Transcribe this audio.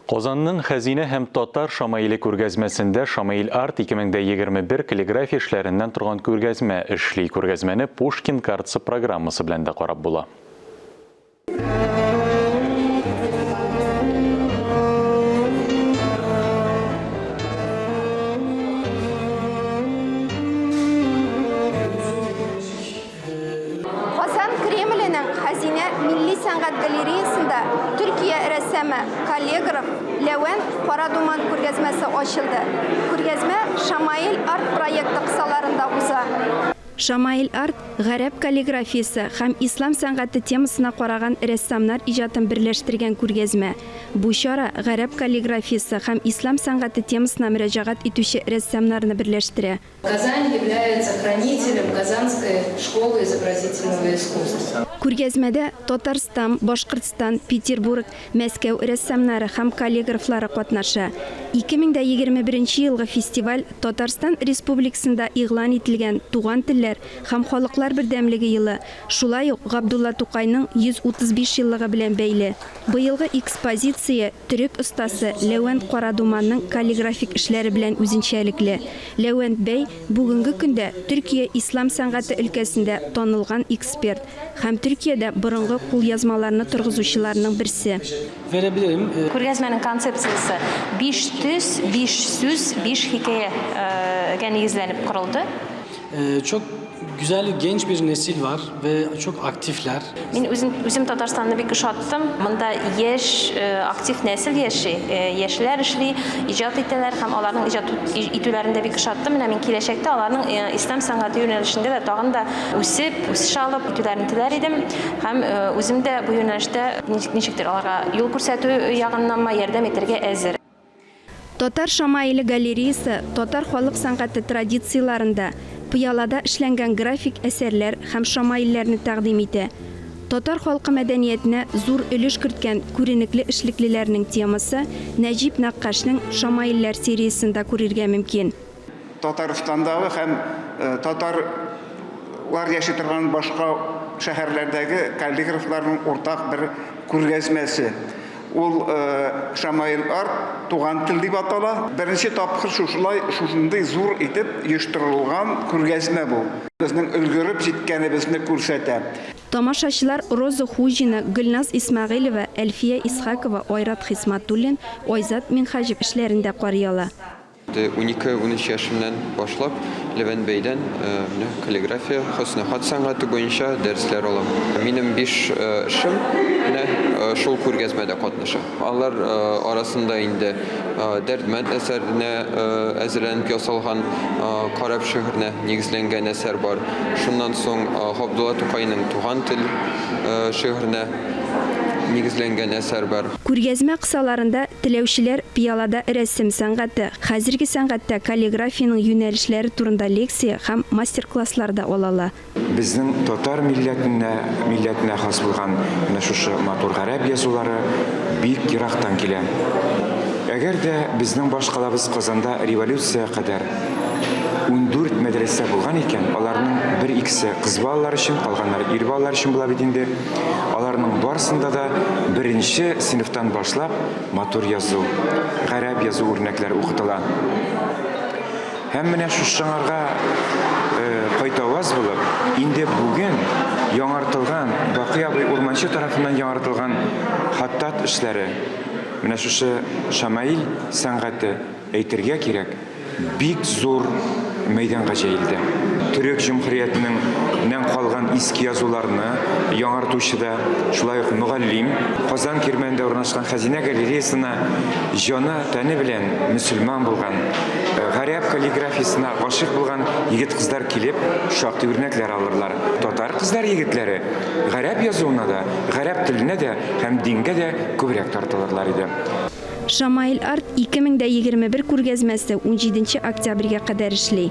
Казанның Хәзинә һәм Татар шамаиле күргәзмәсендә Шамаил Арт 2021 каллиграфия эшләреннән торган күргәзмә эшли. Күргәзмәне Пушкин картасы программасы белән дә карап була. Казан Кремленең Хәзинә милли сәнгать галереясында Төркия рәссамы, каллегров Ләвәнт Кара думан күргәзмәсе ачылды. Күргәзмә Шамаил Арт проекты кысаларында уза. Шамаил Арт, гарәп каллиграфиясе һәм ислам сәнгате темасына караган рәссамнар иҗатын берләштергән күргәзмә. Бу чара гарәп каллиграфиясе һәм ислам сәнгате темасына мөрәҗәгать итүче рәссамнарны берләштерә. Казань является хранителем Казанской школы изобразительного искусства. Күргәзмәдә Татарстан, Башкортстан, Петербург, Мәскәү рәссамнары һәм каллиграфлары катнаша. 2021 елгы фестиваль Татарстан Республикасында игълан ителгән Туган телләр һәм халыклар бердәмлеге елы, шулай ук Габдулла Тукайның 135 еллыгы белән бәйле. Быелгы экспозиция төрек остасы Ләвәнт Карадуманның каллиграфик эшләре белән үзенчәлекле. Ләвәнт бәй бүгенге көндә Төркия ислам сәнгате өлкәсендә танылган эксперт һәм Төркиядә борынгы кулъязмаларны торгызучыларның берсе. Күргәзмәнең концепциясе биш төс, биш сүз, биш хикәягә нигезләнеп корылды. Ee, çok güzel genç bir nesil var ve çok aktifler. Мин үзем, үзем Татарстанны бик ошаттым. Монда яшь, э, актив нәсел яши, э, яшьләр эшли, иҗат итәләр һәм аларның иҗат итүләрен дә бик ошаттым. Менә мин киләчәктә аларның э, ислам сәнгате юнәлешендә дә тагын да үсеп, үсеш алып итүләрен теләр идем. Һәм э, үзем дә бу юнәлештә ничек- ничектер аларга юл күрсәтү ягыннанмы ярдәм итәргә әзер. Татар шамаиле галереясы татар халык сәнгате традицияләрендә пыялада эшләнгән график әсәрләр һәм шамаилләрне тәкъдим итә. Татар халкы мәдәниятенә зур өлеш керткән күренекле эшлеклеләрнең темасы Нәҗип нәккашның шамаилләр сериясендә күрергә мөмкин. Татарстандагы һәм татарлар яши торган башка шәһәрләрдәге каллиграфларның уртак бер күргәзмәсе. Ул Шамаил Арт, Туган тел дип атала. Беренче тапкыр шушылай, шушындый зур итеп оештырылган күргәзмә бу. Безнең өлгереп җиткәнебезне күрсәтә. Тамашачылар Роза Хуҗина, Гөлназ Исмәгыйлева, Әлфия Исхакова, Айрат Хисматуллин, Айзат Минһаҗев эшләрен дә карый ала. Унике-унөч яшемнән башлап Левән бәйдән менә каллиграфия, хөсне-хат сәнгате буенча дәресләр алам. Минем биш шым менә шул күргәзмәдә катнаша. Алар арасында инде Дәрдмәнд әсәренә әзерләнеп ясалган карап шигыренә нигезләнгән әсәр бар. Шуннан соң Габдулла Тукайның Туган тел шигыренә. нигезләнгән әсәр бар. Күргәзмә кысаларында теләүчеләр пыялада рәсем сәнгате, хәзерге сәнгатьтә каллиграфиянең юнәлешләре турында лекция һәм мастер-класслар да ала ала. Безнең татар милләтенә милләтенә хас булган менә шушы матур гарәп язулары бик ерактан килә. Әгәр дә безнең баш калабыз Казанда революциягә кадәр ундүрт мәдрәсә булган икән, аларның бер-икесе кыз балалары өчен, калганнары ир балалары өчен була бит инде. Аларның барсында да беренче сыйныфтан башлап матур язу, гарәп язу үрнәкләре укытыла. Һәм менә шушыңарга э, кайтаваз булып, инде бүген яңартылган Бакый абый Урманчы тарафыннан яңартылган хаттат эшләре, менә шушы Шамаил сәнгате Әйтергә кирәк, бик зур мәйданга җәелде. Төрек җөмһүриятенең нән калган иске язуларны яңартучы да, шулай ук мөгаллим, Казан Кирмәнендә урнашкан Хәзинә галереясына җаны, тәне белән мөселман булган, гарәп каллиграфиясенә гашыйк булган егет-кызлар килеп, шактый үрнәкләр алырлар. Татар кызлар-егетләре гарәп язуына да, гарәп теленә дә һәм дингә дә күбрәк тартылырлар иде. Шамаил арт 2021 күргәзмәсе унҗиденче октябрьгә кадәр эшли.